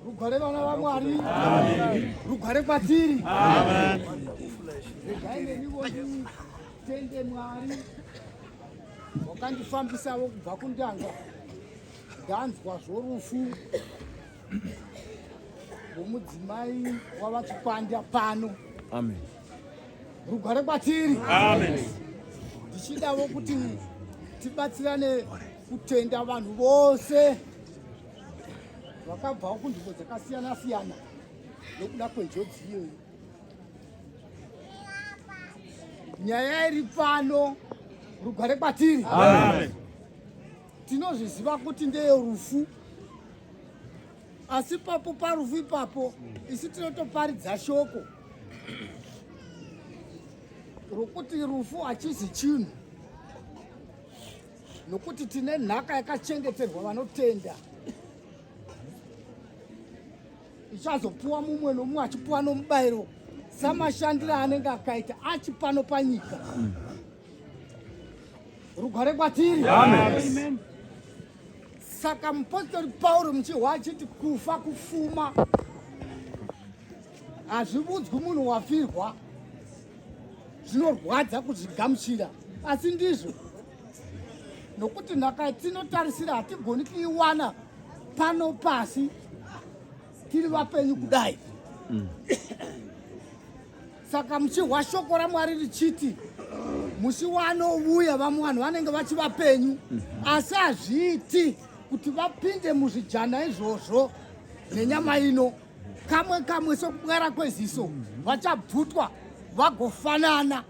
Rugware vana vaMwari. Amen. Rugware kwatiri. Amen. Regai neniwo nditende Mwari wakandifambisavo kubva kundanga ndanzwa zvorufu rwomudzimai wavachikwanda pano amen rugware kwatiri amen ndichidavo kuti tibatsirane kutenda vanhu vose vakabvawo kunzvimbo dzakasiyana siyana nokuda kwenjodzi iyoyi nyaya iri pano rugare kwatiri tinozviziva kuti ndeye rufu asi papo parufu ipapo isi tinotoparidza shoko rokuti rufu hachizi chinhu nokuti tine nhaka yakachengeterwa vanotenda ichazopuwa mumwe nomumwe achipuwa nomubayiro samashandiro anenge akaita achi pano panyika rugware kwatiri saka mupostori pauro muchihwa achiti kufa kufuma hazvivudzwi munhu wafirwa zvinorwadza kuzvigamuchira asi ndizvo nokuti nhaka tinotarisira hatigoni kuiwana pano pasi tiri vapenyu kudai mm. saka muchihwa shoko ramwari richiti musi wanovuya vamwe vanhu vanenge vachi vapenyu mm. asi hazviiti kuti vapinde muzvijana izvozvo nenyama ino kamwe kamwe sokubwara kweziso vachabvutwa vagofanana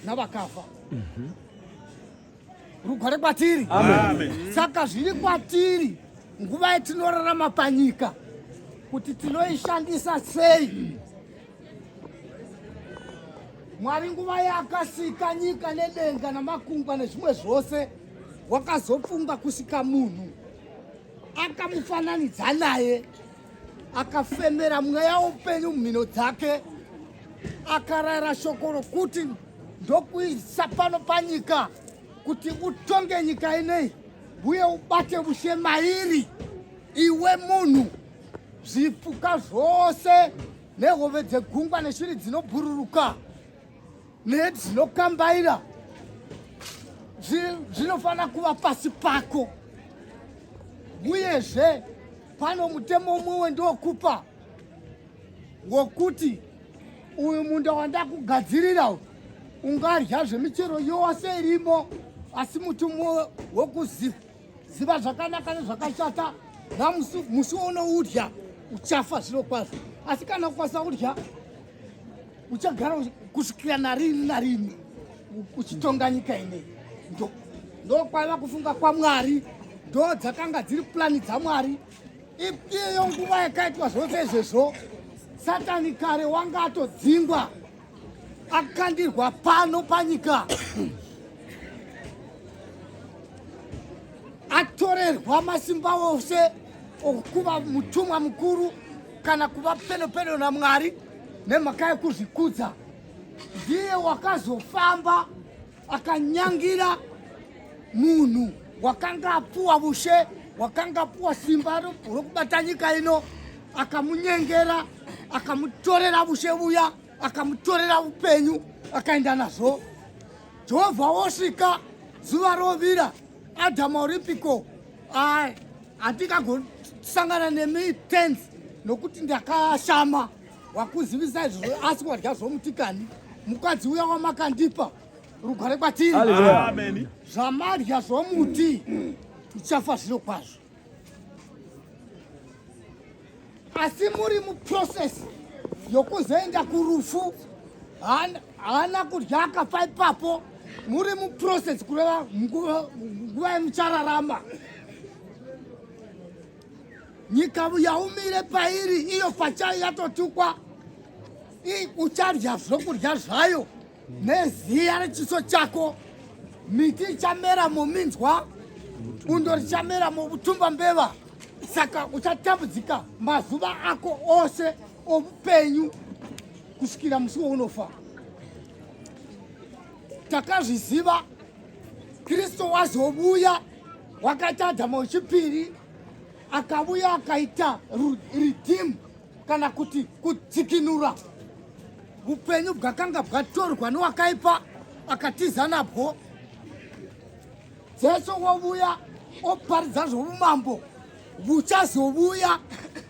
navakafa mhm. rugware kwatiri saka zviri kwatiri nguva yatinorarama panyika kuti tinoishandisa sei mwari nguva yakasika nyika nedenga namakungwa nezvimwe zvose wakazofunga kusika munhu akamufananidza naye akafemera mweya woupenyu mumhino dzake akarayira shoko rokuti ndokuisa pano panyika kuti utonge nyika inei uye ubate bushe mairi iwe munhu zvipuka zvose nehove dzegungwa neshiri dzinobhururuka nedzinokambaira zvinofanira kuva pasi pako uyezve pano mutemo umwe wendokupa wokuti uyu munda wandakugadzirira ungadya zvemichero yose irimo asi muti umwe wekuziva ziva zvakanaka nezvakashata namusi musi unoudya uchafa zviro kwazvo asi kana kukwanisa kudya uchagara kusvikira narini narini uchitonga nyika inei ndokwaiva kufunga kwamwari ndo dzakanga dziri purani dzamwari ipiyo nguva yakaitwa zvose izvezvo satani kare wanga atodzingwa akandirwa pano panyika atorerwa masimba ose okuva mutumwa mukuru kana kuva pedo pedo namwari nemhaka yekuzvikudza ndiye wakazofamba akanyangira munhu wakanga apuwa vushe wakanga apuwa simba rokubata nyika ino akamunyengera akamutorera vushe vuya akamutorera upenyu akaenda nazvo jehovha wosvika zuva rovira adhama oripiko handikagosangana nemi tens nokuti ndakashama wakuzivisa izvozvo asi wadya zvomutikani mukadzi uya wamakandipa rugare kwatiri zvamadya zvomuti tichafa zviro kwazvo asi muri muprocess yokuzoenda kurufu haana kudya akafa ipapo muri muprocess kureva nguva yemuchararama Nyika yaumire pairi iyo pachayo yatotukwa uchadya zvokudya zvayo neziya rechiso chako miti ichamera mominzwa bundo richamera mokutumba mbeva saka uchatambudzika mazuva ako ose oupenyu kusvikira musi wounofa takazviziva kristu wazovuya wakatadza mauchipiri akavuya akaita ridhimu kana kuti kudzikinura upenyu bwakanga bwatorwa newakaipa akatiza nabwo jesu wovuya oparidza zvoumambo vuchazovuya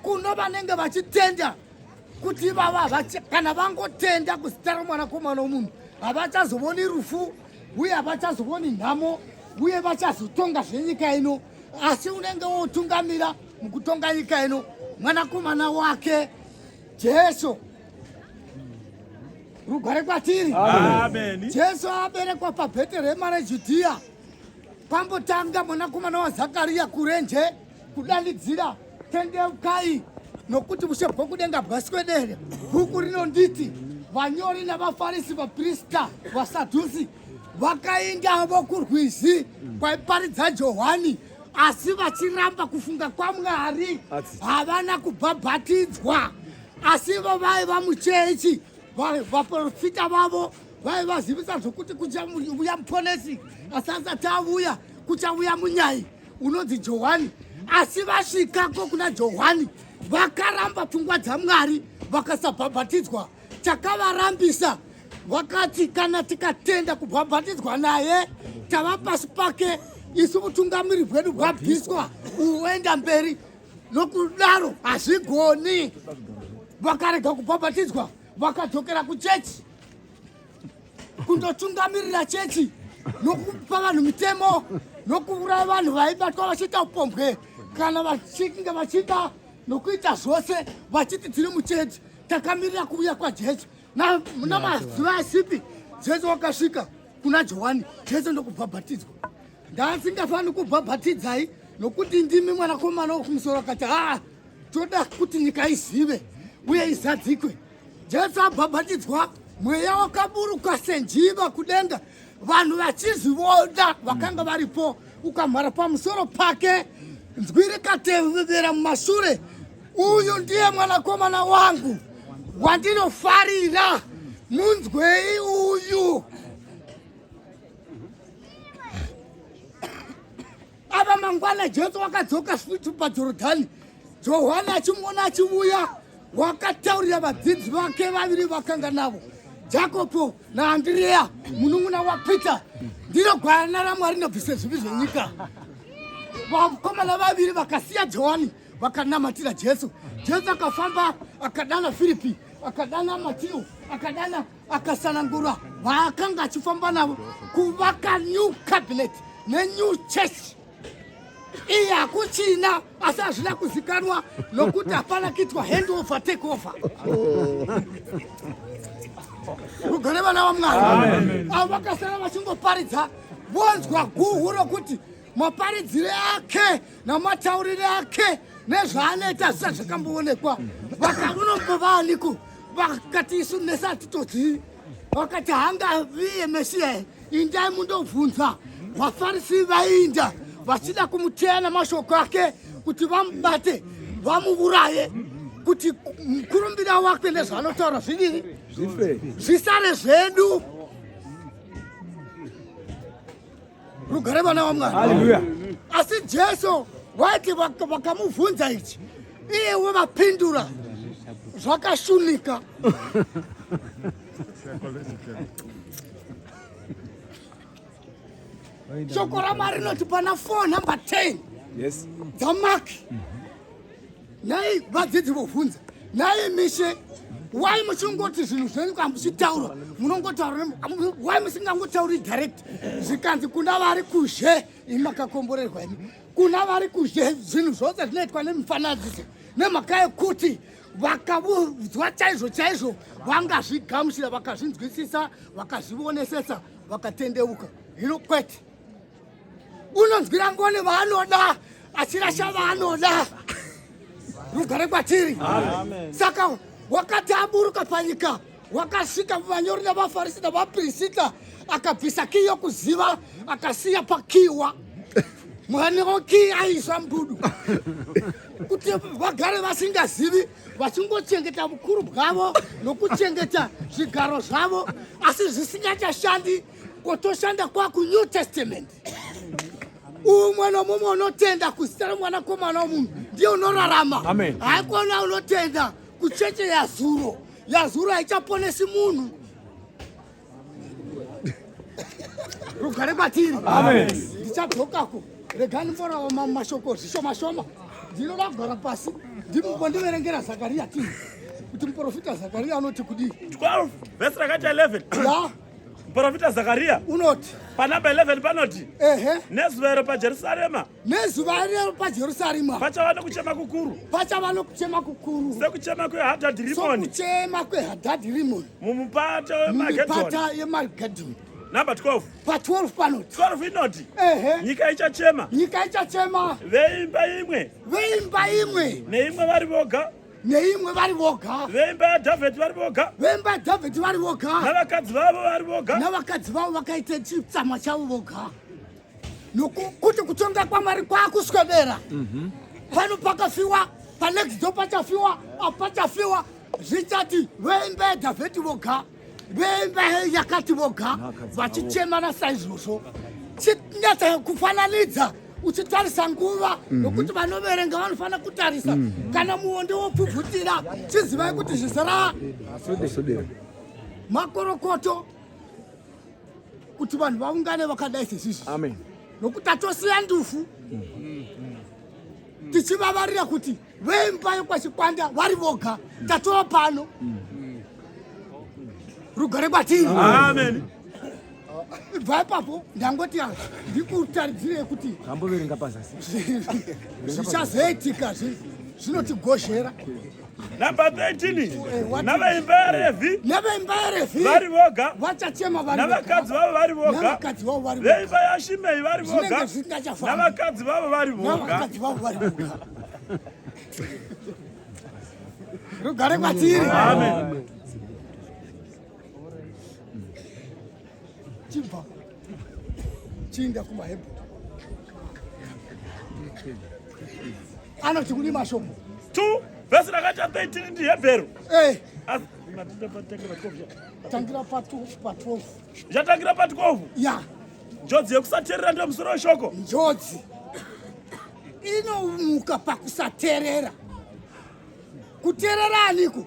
kuno vanenge vachitenda kuti vava kana vangotenda kuzita romwanakomana womunhu havachazovoni rufu uye havachazooni nhamo uye vachazotonga zvenyika ino asi unenge wotungamira mukutonga nyika ino mwanakomana wake jesu rugware kwatiri jesu aberekwa pabheterehema rejudhiya pambotanga mwanakomana wazakariya kurenje kudanidzira tendeukai nokuti ushe bwokudenga bwaswedere bhuku rinonditi vanyori navafarisi vaprista vasadhusi vakaindavo kurwizi kwaiparidza johani asi vachiramba kufunga kwamwari havana kubhabhatidzwa asi ivo vaiva muchechi vaprofita vavo vaivazivisa zvokuti kuchauya muponesi asi asati avuya kuchauya munyai unonzi johani asi vasvikako kuna johani vakaramba pfungwa dzamwari vakasabhabhatidzwa chakavarambisa vakati kana tikatenda kubhabhatidzwa naye tava pasi pake isu vutungamiri bwedu bwabviswa uenda mberi nokudaro hazvigoni vakarega kubhabhatidzwa vakadzokera kuchechi kundotungamirira chechi nokupa vanhu mitemo nokuuraya vanhu vaibatwa vachiita upombwe kana vachinge vachida nokuita zvose vachiti tiri muchechi takamirira kuuya kwajesu namazuva asipi jesu wakasvika kuna johani jesu ndokubhabhatidzwa ndaasingafaniri kubhabhatidzai nokuti ndimi mwanakomana wokumusoro akati haa toda kuti nyika izive uye izadzikwe Jesu abhabhatidzwa mweya wakaburuka senjiva kudenga vanhu vachizvivoda vakanga varipo ukamhara pamusoro pake nzwi rikatevera mumashure uyu ndiye mwanakomana wangu wandinofarira munzwei uyu Ava mangwana Jesu wakadzoka futi paJorodhani, Johani achimuona achivuya, wakataurira vadzidzi vake vaviri vakanga navo, Jakobo naAndireya munun'una waPita, ndiro gwayana raMwari nobvisa zvivi zvenyika. Vakomana vaviri vakasiya Johani vakanamatira Jesu. Jesu akafamba akadana Firipi, akadana Matio, akadana akasanangura vaakanga achifamba navo kuvaka new cabinet nenew church iyi hakuchina asi hazvina kuzikanwa nokuti hapana kuitwa hand over take over rugare vana vamwari avo vakasara vachingoparidza vonzwa guhu rokuti maparidzire ake namataurire ake nezvaanoita zvisati zvakamboonekwa vakaunombovaaniko vakati isu nese hatitodzii vakati hanga viye mesiya indai mundobvunza vafarisi vainda vachida kumuteya namashoko ake kuti vamubate vamuuraye kuti mukurumbira wake nezvaanotaura zvidii zvisare zvedu rugare vana vamwari asi jesu waiti vakamubvunza ichi iyewe vapindura zvakashunika shoko ramwari rinoti pana 4 number 10 yes. dzamak nhai vadzidzi vovhunza nhai mishe why muchingoti zvinhu zvenyu kana muchitaura munongotaura why musingangotauri direct zvikanzi kuna vari kuzhe ini makakomborerwa ini kuna vari kuzhe zvinhu zvose zvinoitwa nemifananidzo nemhaka yekuti vakavudzwa chaizvo chaizvo vangazvigamuchira vakazvinzwisisa vakazvionesesa vakatendeuka hino kwete unonzwira ngoni vaanoda achirasha vaanoda rugare kwatiri saka wakati aburuka panyika wakasvika vanyori navafarisi navapirisita akabvisa kii yokuziva akasiya pakiwa mwanewo kii aiswa mbudu kuti vagare vasingazivi vachingochengeta vukuru bwavo nokuchengeta zvigaro zvavo asi zvisingachashandi Ko toshanda kwa ku New Testament. Umwe nomumwe unotenda kuzita remwanakomana womunhu ndiye unorarama. Haikona unotenda kucheche yazuro. Yazuro haichaponesi munhu. Rugare kwatiri. Amen. Ndichadzokako. Regani mborawo mashoko zvishoma shoma. Ndinoda kugara pasi. Ndimbo ndiverengera Zakaria tini. Kuti muprofita Zakaria anoti kudii? 12 verse rakati 11. Yeah. Muprofita Zakaria unoti panamba 11 panoti ehe, nezuva iro paJerusarema, nezuva iro paJerusarema pachava nokuchema kukuru, pachava nokuchema kukuru, sekuchema kweHadhadhi Rimoni, sokuchema kweHadhadhi Rimoni mumupata wemagedhoni. Mipata yemagedhoni number 12 pa 12 pano 12 inoti ehe nyika ichachema nyika ichachema veimba imwe veimba imwe neimwe vari voga neimwe vari voga veimba yadhavheti vari voga veimba yadhavheti vari voga navakadzi vavo vari voga navakadzi vavo vakaita chitsamwa chavo voga nokuti kutonga kwamwari kwakuswedera mhm. pano pakafiwa panext do pachafiwa apachafiwa zvichati veimba yadhavheti voga vemba yakati voga vachichemana saizvozvo chinyatsa kufananidza uchitarisa nguva mhm. nokuti vanoverenga vanofanira kutarisa mhm. kana muonde wopfubvutira chizivai kuti zvizara makorokoto kuti vanhu vaungane vakadai sezvizvi nokuti atosiya ndufu mhm. tichivavarira kuti Vemba yekwachikwanda vari voga tatova pano rugare kwatiri amen bva ipapo ndangoti ah, ndikutaridzirei kuti amboverenga pazasi zvichazoitika zvinotibhozhera number 13 eh, navaimba yarefi navaimba yarefi vari voga vachachema vari navakadzi vavo vari voga navakadzi vavo vari voga veimba yashimei vari voga navakadzi vavo vari voga navakadzi vavo vari voga rugare kwatiri chibva chiinda kumahebhu anoti kune mashoko two vhesi rakati chapter 18 ndi hebheru eh. tangira pa 12 zvatangira pa 12 ya njodzi yekusateerera ndiyo musoro weshoko njodzi inomuka pakusaterera kuterera aniko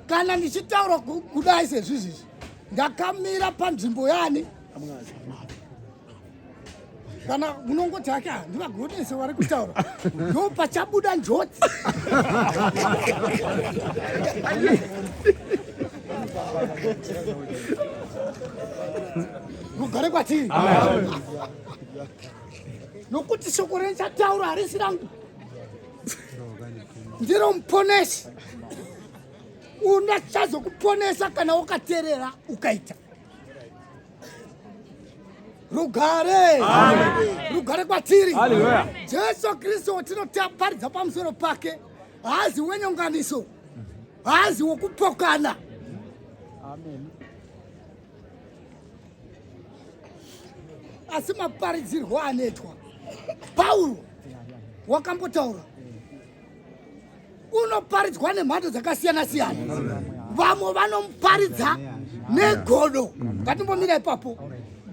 kana ndichitaura kudai sezvizvizvi ndakamira panzvimbo yani kana munongoti hake ndivagonese wari kutaura ndo pachabuda njodzi kugare kwatiri nokuti shoko rendichataura harisi rangu ndiro muponesi undachazokuponesa kana wakaterera ukaita rugare rugare kwatiri jesu kristu watinotaparidza pamusoro pake haazi wenyonganiso haazi wokupokana Amen. asi maparidzirwo anoitwa pauro wakambotaura unoparidzwa nemhando dzakasiyana siyana vamwe vanoparidza negodo ngatimbomira ipapo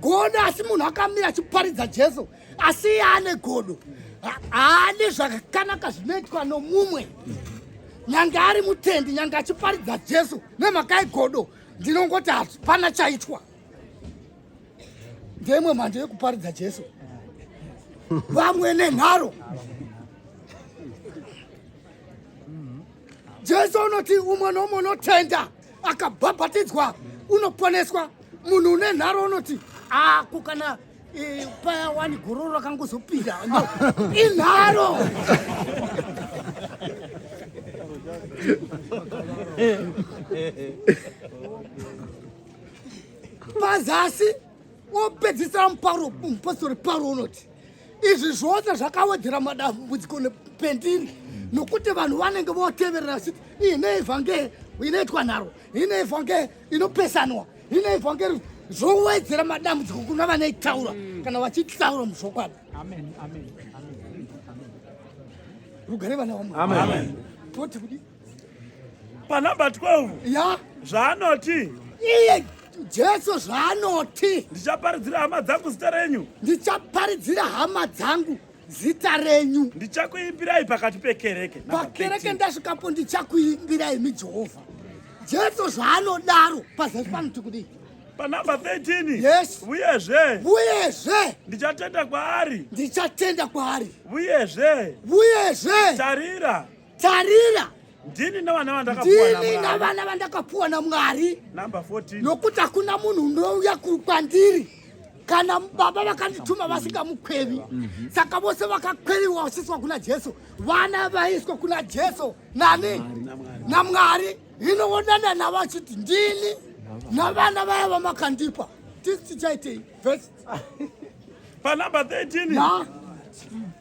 godo asi munhu akamira achiparidza jesu asi iye ane godo haane zvakanaka zvinoitwa nomumwe nyange ari mutendi nyange achiparidza jesu nemhaka yegodo ndinongoti hapana chaitwa ndeimwe mhando yekuparidza jesu vamwe nenharo jesu unoti umwe noumwe unotenda akabhabhatidzwa unoponeswa munhu une nharo unoti ako kana Eh, paya wani gororo rakangozopinda inharo mazasi wopedzisira muparo mupostori paro unoti izvi zvose zvakawedzera madambudziko nependiri nokuti vanhu vanenge voteverera vachiti ine ivhange inoitwa nharo ine ivhange inopesanwa Ine evhangeri zvowedzera madambudziko kuna vanoitaura mm. kana vachitaura muzvokwadi. Amen. Amen. Amen. Rugare vana vamwe. Amen. Toti kudi. Pa number 12. Ya. Zvaanoti. Iye Jesu zvaanoti. Ndichaparidzira hama dzangu zita renyu. Ndichaparidzira hama dzangu. zita renyu ndichakuimbirai pakati pekereke pakereke ndasvikapo ndichakuimbirai mi jehovha jesu zvaanodaro pazasi pano tikudii panumber 13 yes uyezve uyezve ndichatenda kwaari ndichatenda kwaari uyezve uyezve tarira tarira ndini nevana vandakapuwa namwari nokuti hakuna munhu unouya kwandiri kana baba vakandituma vasingamukwevi mhm. saka vose vakakweriwa vachiswa kuna jesu vana vaiswa kuna jesu nani namwari hino wodana navo achiti ndini navana vaya vamakandipa tisi tichaitei First. Pa number 13. Yeah.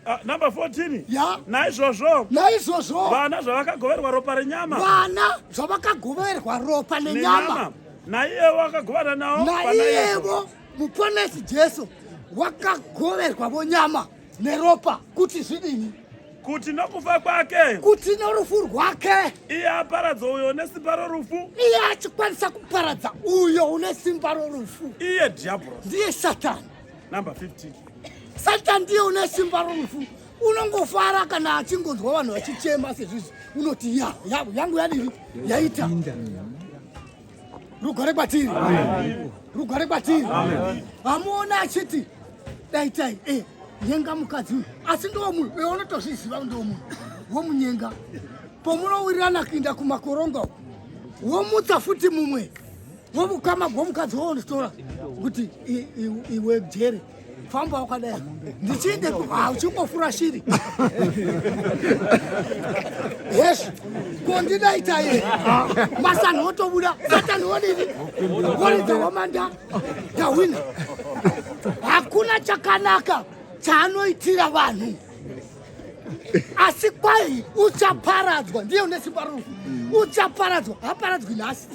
Uh, number 14 yeah. naizvozvo naizvozvo vana zvavakagoverwa ropa renyama vana zvavakagoverwa ropa nenyama naiyevo akagovana navo naiyevo muponesi jesu wakagoverwa vonyama neropa kuti zvidini kuti nokufa kwake kuti norufu rwake iye aparadza uyo une simba rorufu iye achikwanisa kuparadza uyo une simba rorufu iye dhiabhorosi ndiye satani number 15 satani ndiye une simba rorufu unongofara kana achingonzwa vanhu vachichema sezvizvi unoti ya yangu yadiri yaita Rugare kwatiri, rugare kwatiri. Vamuona achiti daitai eh, nyenga mukadzi uyu, asi ndiwo munhu eh, unotozviziva ndiwo munhu womunyenga. Pomunowirirana kuinda kumakoronga womutsa futi mumwe womukama gwomukadzi wounotora kuti iwe jere famba wakadai ndichiende uchingofura shiri yes kondidaita ye masanhu otobuda satani wodini woridza wamanda ndahwina hakuna chakanaka chaanoitira vanhu asi kwai uchaparadzwa ndiye une simba rufu uchaparadzwa haparadzwi nhasi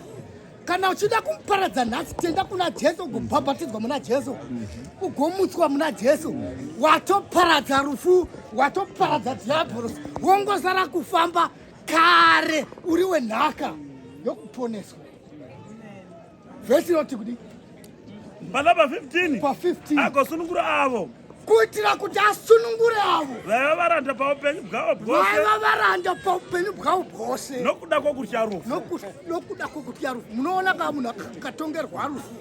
kana uchida kumuparadza nhasi tenda kuna jesu ugobhabhatidzwa muna jesu ugomutswa muna jesu watoparadza rufu watoparadza dhiabhorosi wongosara kufamba kare uri wenhaka yokuponeswa vhesi inoti kudii Bala pa 15. Pa 15. Ako sunungura avo. kuitira kuti asunungure avo vaiva varanda paupenyu bwavo bvosevaiva varanda paupenyu bwavo bwose nokuda kwokutya rufu nokuda kwokutya rufu munoona kaa munhu akatongerwa rufu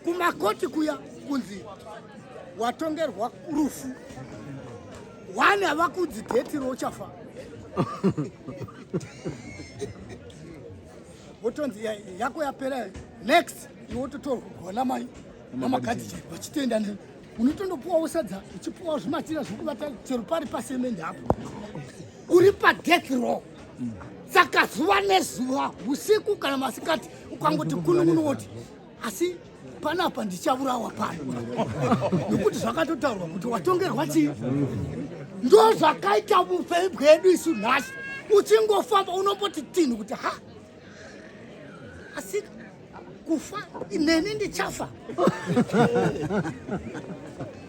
kumakoti kuya kunzi watongerwa rufu wani havakudzi dheti rouchafa wotonzi yako yapera next iwe wototorwa kugona mai namakadzi chai vachitenda nei unotondopuwawo sadza uchipuwawo zvimatira zvekubata chero pari pasemende apo uri padeath row saka zuva nezuva usiku kana masikati ukangoti kunun'unu woti asi panapa ndichaurawa pano nokuti zvakatotaurwa kuti watongerwa chii ndo zvakaita upenyu bwedu isu nhasi uchingofamba unomboti tinhu kuti ha asi kufa ineni ndichafa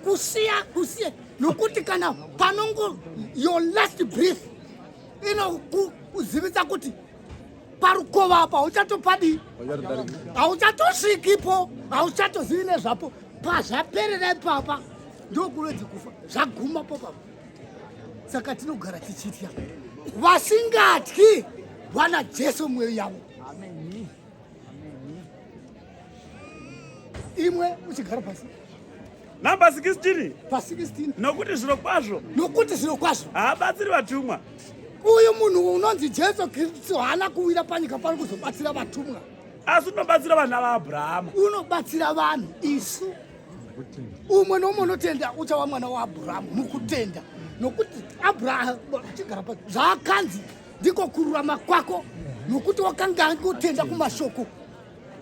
kusiya kusiya nokuti kana panongo your last breath inokuzivisa kuti parukova apa hauchatopadi hauchatosvikipo hauchatozivi nezvapo pazvaperera ipapa ndokuredzi kufa zvaguma popapa saka tinogara tichitya vasingatyi vana jesu mweyo yavo imwe uchigara pasi namba 16 pa 16 nokuti zviro kwazvo nokuti zviro kwazvo haabatsiri vatumwa uyu munhu unonzi jesu kristu haana kuwira panyika pano kuzobatsira vatumwa asi unobatsira vana vaabrahama unobatsira vanhu isu umwe noumwe unotenda uchava mwana waabhurahamu mukutenda nokuti abraham chigara pa zvaakanzi ndiko kururama kwako nokuti wakanga angotenda kumashoko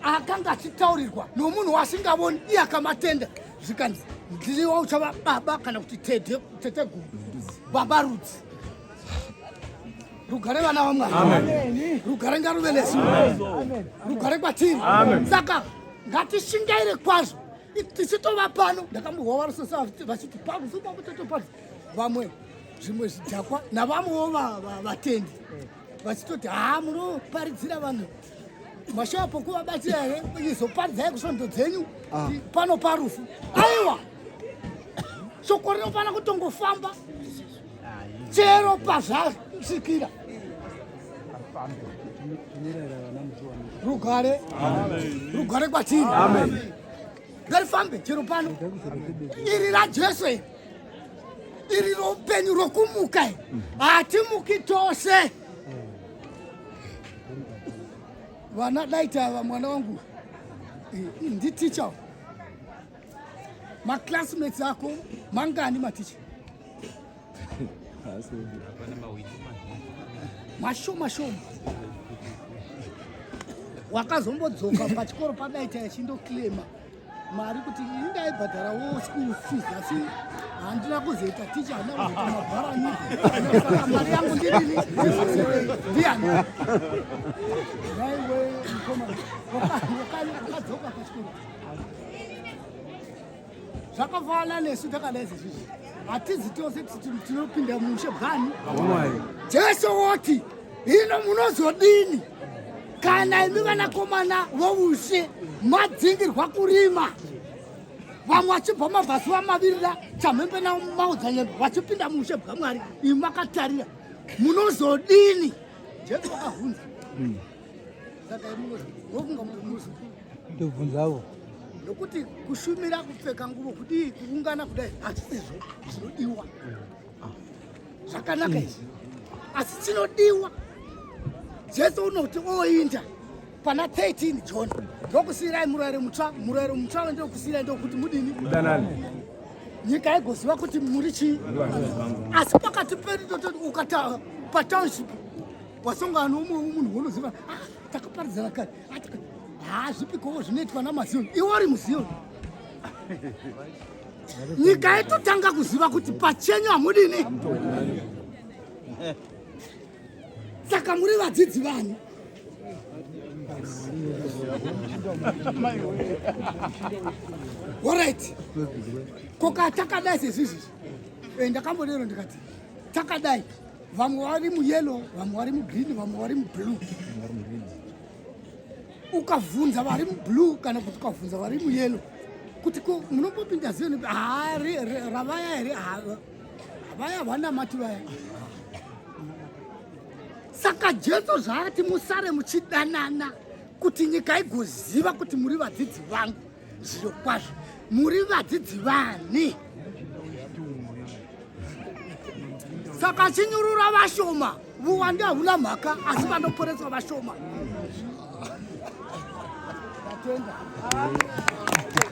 akanga achitaurirwa nomunhu waasingavoni iye akamatenda zvikanzi ndiwa uchava baba kana kuti tete tete guru baba rudzi rugare vana vamwari rugare ngaruve nesu rugare kwatiri saka ngatishingaire kwazvo tichitova pano ndakambohwa varosesa vachiti pakusupa kutotopa vamwe zvimwe zvidhakwa navamwewo vatendi vachitoti haa munoparidzira vanhu mashava pokuvabatira here izoparidzai kusvondo dzenyu ah. pano parufu aiwa shoko rinofana kutongofamba chero pazvasvikira rugare rugare kwatiri ngarifambe chero pano iri rajesu iri iri roupenyu rokumuka hatimuki tose vana daita ava mwana wangu nditicha maclassmates ako mangani maticha mashoma shoma wakazombodzoka pachikoro padaita yachindoclaima mari kuti ini ndaibhadharawo school fees asi handina kuzoita ticha handina kuzoita mabharani saka mari yangu ndirini ndiyani naiwe mkoma wakadzoka pachikoro zvakafanana nesu takadai sezvizvi hatizi tose tinopinda mushe bwani jesu woti hino munozodini kana imi vanakomana voushe madzingirwa kurima vamwe vachibva mabhasi vamavirira chamhembe navo maodzanyembe vachipinda muushe bwamwari imi makatarira munozodini jesu vakavhunza hmm. saka imunofunga munozodini ndobvunzavo nokuti kushumira kupfeka nguvo kudii kuungana kudai hazvisizvo zvinodiwa zvakanaka izvi asi chinodiwa jesu unoti oinda pana 13 john ndokusiyirai murayiro mutsva murayiro mutsva wendokusiyirai ndokuti mudini nyika yaigoziva kuti muri chii asi pakati pedu tototi ukata patownship wasongana noumwe munhu wonoziva ah, takaparidzana kare ah, haa ah, zvipikowo zvinoitwa namazioni iwo uri muzioni nyika yatotanga kuziva kuti pachenyu hamudini saka muri vadzidzi vanhu orit koka takadai sezvizvi eh, ndakambodero ndikati takadai vamwe vari muyellow vamwe vari mugreen vamwe vari mublue ukavhunza vari mublue kana kuti ukavhunza vari muyelo kuti ko munombopinda ziveni haa ravaya here vaya vanamati vaya saka jesu zvaati musare muchidanana kuti nyika igoziva kuti muri vadzidzi vangu zviro kwazvo muri vadzidzi vani saka chinyurura vashoma vuwande hauna mhaka asi vanoporeswa vashoma Thank you.